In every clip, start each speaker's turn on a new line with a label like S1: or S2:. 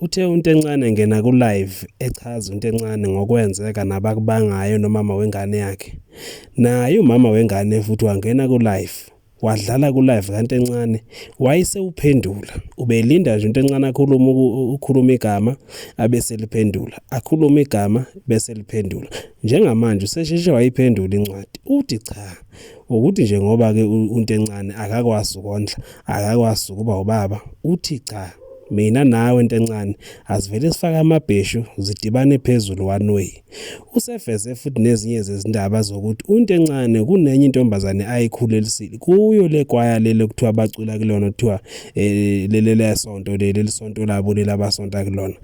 S1: Uthe uNtencane engena ku-live echaza uNtencane ngokwenzeka nabakubangayo nomama wengane yakhe. Naye umama wengane futhi wangena ku-live wadlala ku-live kaNtencane wayesewuphendula. Ubelinda nje uNtencane akhulume ukhuluma igama abese liphendula, akhulume igama bese liphendula. Njengamanje usesheshe wayiphendula incwadi. Uthi cha ukuthi nje ngoba-ke uNtencane akakwazi ukondla, akakwazi ukuba ubaba, uthi cha. Mina nawe ntencane asivele sifake amabheshu zidibane phezulu one way. Useveze futhi nezinye zezindaba zokuthi untencane kunenye intombazane ayikhulelisile kuyo le kwaya lele kuthiwa bacula kulona kuthiwa eh, lele lesonto leli sonto labo lelabasonta kulona.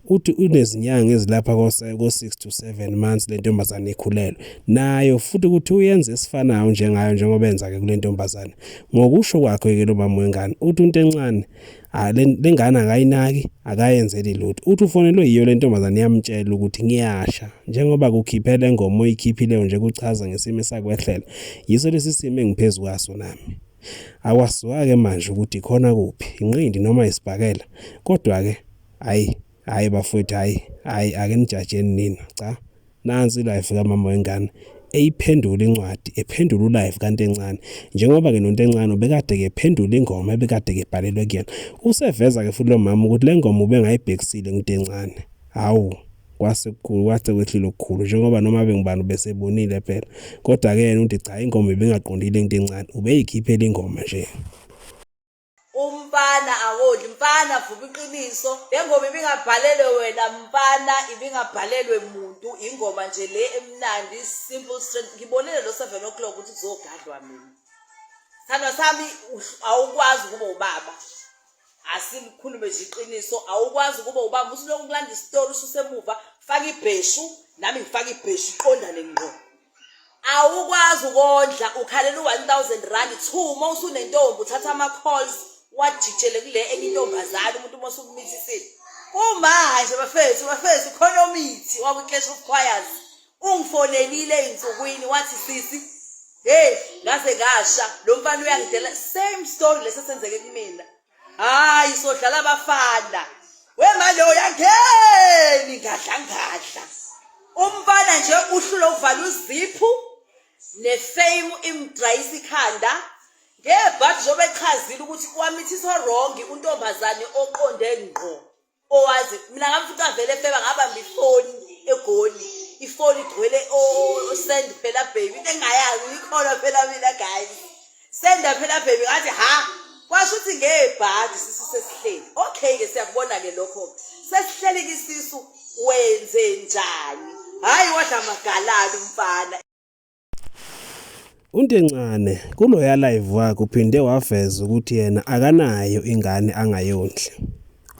S1: Uthi unezinyanga ezilapha ko 6 to 7 months le ntombazane ikhulelwe. Nayo futhi ukuthi uyenza esifanayo njengayo njengoba enza ke kule ntombazane. Ngokusho kwakhe ke lo mama wengane uthi untencane Ah, lengane akayinaki akayenzeli lutho uthi ufonelwe yiyo le ntombazane yamtshela ukuthi ngiyasha njengoba kukhiphe le ngoma oyikhiphileyo nje kuchaza ngesimo esakwehlela yiso lesi simo engiphezu kwaso nami akwaziwa-ke manje ukuthi khona kuphi inqindi noma isibhakela kodwa-ke hhayi hayi bafowethu hayi hayi ake nijajeni nina cha nansi life kamama wengane eyiphendula incwadi ephendula ulive kanti encane njengoba ke nonto encane ubekade ke phendula ingoma ebekade ke bhalelwe kuyena useveza ke futhi lo mama ukuthi le ngoma ubengayibhekisile ngithi encane hawu kwase kukhulu kwase kwehlile okukhulu njengoba noma bengibani ubesebonile phela kodwa ke yena uthi cha ingoma ibingaqondile into encane ubeyikhiphela ingoma nje umfana
S2: awodli mfana vuka iqiniso le ngoma ibingabhalelwe wena mfana ibingabhalelwe muntu ingoma nje le emnandi simple strength ngibonile lo seven o'clock ukuthi kuzogadlwa mina thandwa sami awukwazi ukuba ubaba asilikhulume nje iqiniso awukwazi ukuba ubaba usuloku kulanda isitori ususemuva faka ibheshu nami ngifaka ibheshu iqondane ngqo awukwazi ukondla ukhalela u-1000 rand two uma usunentombi uthatha ama-calls wajitshele kule enye intombazane umuntu uma usukumithisile kumanje nje bafethu bafethu khona omithi waku-clash of choirs ungifonelile ey'nsukwini wathi sisi heyi ngaze ngasha lo mfana uyangidela same story lesi esenzeke kumina hayi sodlala abafana wemaloyo yangeni ngadla ngadla umfana nje uhlule uvala uziphu nefame imdrayisa ikhanda ngebhathi njengoba echazile ukuthi wamithisa wrongi untombazane oqonde ngqo owazi mina ngam futhi avele efeba ngabamba ifoni egoli ifoni igcwele osend phela baby into engayazi ikhona phela mina guys senda phela baby ngathi ha kwasho ukuthi ngebhadi sisu sesihleli okay ke siyakubona ke lokho sesihleli kisisu wenze njani hayi wadla magalabi mfana
S1: UNtencane kuloya live wakhe uphinde waveza ukuthi yena akanayo ingane angayondli.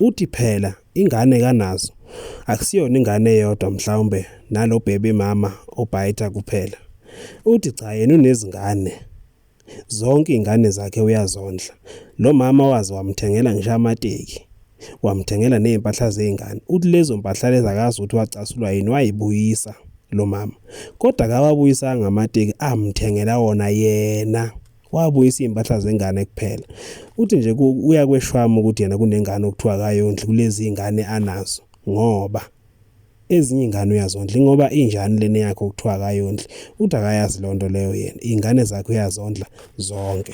S1: Uthi phela ingane kanazo akusiyona ingane eyodwa mhlawumbe nalo baby mama obhayitha kuphela. Uthi cha yena unezingane. Zonke iy'ngane zakhe uyazondla. Lo mama waze wamthengela ngisho amateki, wamthengela ney'mpahla zey'ngane. Uthi lezo mpahla lezi akazi ukuthi wacasulwa yini, wayibuyisa lo mama. Kodwa akawabuyisanga amateki, amthengela wona yena. Wabuyisa iy'mpahla zengane kuphela. Uthi nje uyakweshwama ukuthi yena kunengane okuthiwa akayondli kulezi y'ngane anazo ngoba ezinye ingane uyazondla ingoba injani lena yakho kuthiwa akayondli uthi akayazi lonto leyo yena ingane zakhe uyazondla zonke